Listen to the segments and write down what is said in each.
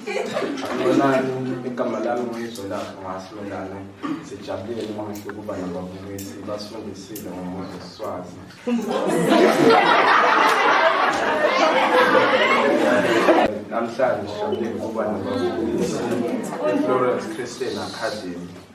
Bonani, igama lami nguyizolapho ngasilolana sijabulile noma ngisho ukuba nababukisi basifundisile ngomuntu siswazi namhlanje sijabulile ukuba nababukisi i-florence christian academy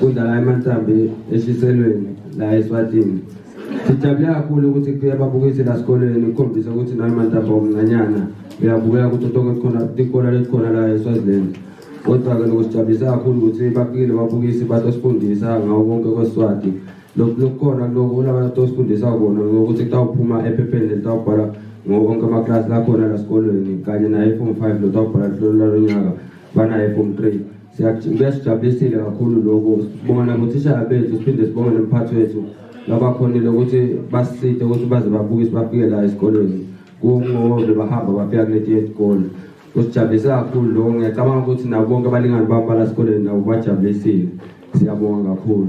Kudlala amantambi eshiselweni la eSwatini. Sijabule kakhulu ukuthi kubuye babukisi la sikolweni ukukhombisa ukuthi nawe mantambi omncanyana uyabukeka ukuthi utoke khona tikona letikhona la eSwaziland. Kodwa-ke lokusijabulisa kakhulu ukuthi bafikile babukisi batosifundisa ngawo konke kweSwati. Lokhu lokukhona kuloko kulaba tosifundisa kona ngokuthi kutawuphuma ephepheni litawubhala ngawo konke amaklasi lakhona la sikolweni kanye naye form five lotawubhala luhlolo lwalo nyaka banaye form three. Kuyasijabulisile kakhulu lokhu sibonga nabothishara bethu siphinde sibonge nomphathi wethu labakhonile ukuthi basiside ukuthi baze babuke sibafike la esikolweni kungobe bahamba bafika kuleti yesikole kusijabulise kakhulu lokho ngiyacabanga ukuthi nabo bonke abalingani bami balasikoleni nabo bajabulisile siyabonga kakhulu